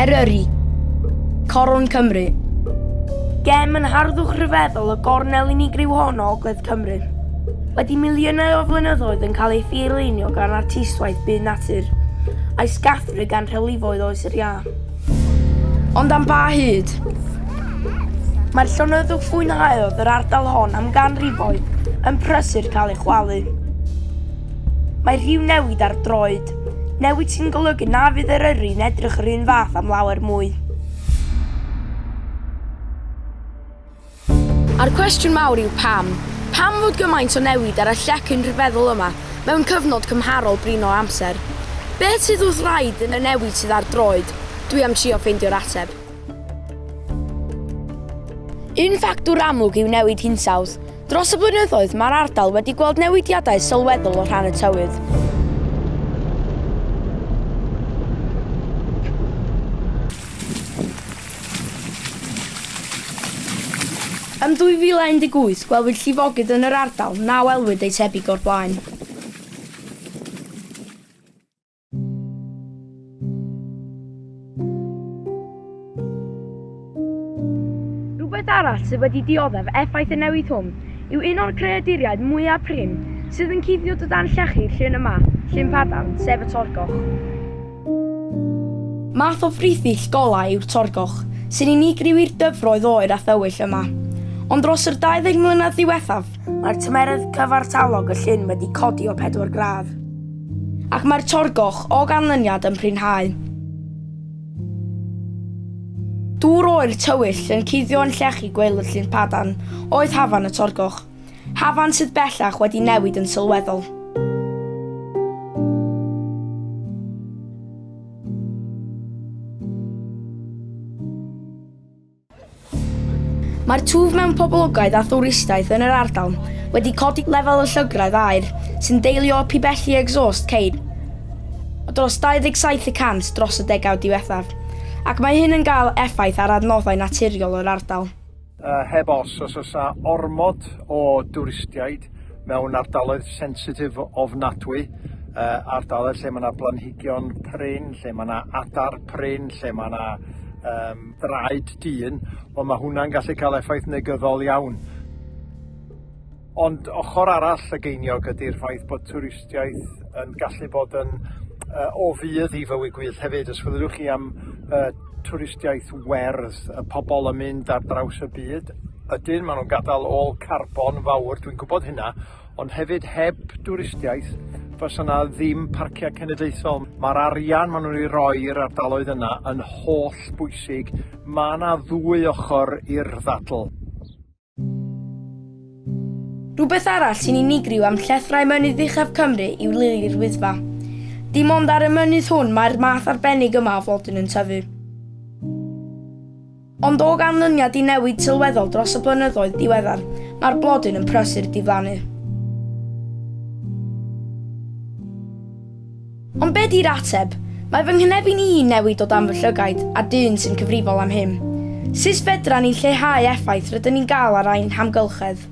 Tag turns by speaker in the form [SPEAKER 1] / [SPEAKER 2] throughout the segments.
[SPEAKER 1] Eryri, Coron Cymru. Gem yn harddwch rhyfeddol y gornel unigryw hon o Ogledd Cymru. Wedi miliynau o flynyddoedd yn cael ei thirlunio gan artistwaith byd natur, a'i sgathru gan rhewlifoedd Oes yr Iâ. Ond am ba hyd? Mae'r llonyddwch fwynhaodd yr ardal hon am ganrifoedd yn prysur cael ei chwalu. Mae rhyw newid ar droed, newid sy'n golygu na fydd Eryri'n edrych yr un fath am lawer mwy. A'r cwestiwn mawr yw pam? Pam fod gymaint o newid ar y llecyn rhyfeddol yma mewn cyfnod cymharol brin o amser? Beth sydd wrth wraidd yn y newid sydd ar droed? Dwi am trio ffeindio'r ateb. Un ffactor amlwg yw newid hinsawdd. Dros y blynyddoedd, mae'r ardal wedi gweld newidiadau sylweddol o rhan y tywydd. Ym 2018, gwelwyd llifogydd yn yr ardal, na welwyd ei thebyg o'r blaen. Rhywbeth arall sydd wedi dioddef effaith y newid hwn yw un o'r creaduriaid mwyaf prin sydd yn cuddio o dan llechi Llyn y Mah, Llyn Padarn, sef y Torgoch. Math o frithill golau yw'r torgoch, sy'n unigryw i'r dyfroedd oer a thywyll yma. Ond dros yr 20 mlynedd ddiwethaf, mae'r tymeredd cyfartalog y llyn wedi codi o pedwar gradd. Ac mae'r torgoch, o ganlyniad, yn prinhau. Dŵr oer tywyll yn cuddio yn llechi gwely'r llyn padarn oedd hafan y torgoch. Hafan sydd bellach wedi newid yn sylweddol. Mae'r twf mewn poblogaeth a thwristiaeth yn yr ardal wedi codi lefel y llygredd aer sy'n deillio o pibelli exhaust ceir o dros 27 y cant dros y degawd diwethaf, ac mae hyn yn cael effaith ar adnoddau naturiol yr ardal. Yy heb os, os oes 'na ormod o dwristiaid mewn ardaloedd sensitif ofnadwy, yy ardaloedd lle ma' 'na blanhigion prin, lle ma' 'na adar prin, lle ma' 'na yym draed dyn, wel ma' hwnna'n gallu ca'l effaith negyddol iawn. Ond ochr arall y geiniog ydy'r ffaith bod twristiaeth yn gallu bod yn yy o fudd i fywyd gwyllt hefyd. Os fedrwch chi am yy twristiaeth werdd, y pobl yn mynd ar draws y byd, ydyn, maen nhw'n gadael ôl carbon fawr, dwi'n gwybod hynna, ond hefyd heb dwristiaeth fysa yna ddim parciau cenedlaethol. Mae'r arian maen nhw'n ei roi i'r ardaloedd yna yn holl bwysig. Mae yna ddwy ochr i'r ddadl. Rhywbeth arall sy'n unigryw am llethrau mynydd uchaf Cymru yw lili'r Wyddfa. Dim ond ar y mynydd hwn mae'r math arbennig yma o flodyn yn tyfu. Ond o ganlyniad i newid sylweddol dros y blynyddoedd diweddar, mae'r blodyn yn prysur diflannu. Ond be di'r ateb? Mae fy nghynefin i yn newid o dan fy llygaid, a dyn sy'n cyfrifol am hyn. Sut fedran ni lleihau effaith rydyn ni'n gael ar ein hamgylchedd?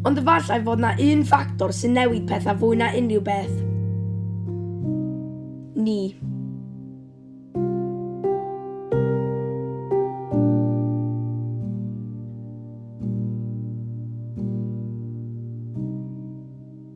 [SPEAKER 1] Ond efallai fod 'na un ffactor sy'n newid pethau fwy na unrhyw beth. Ni.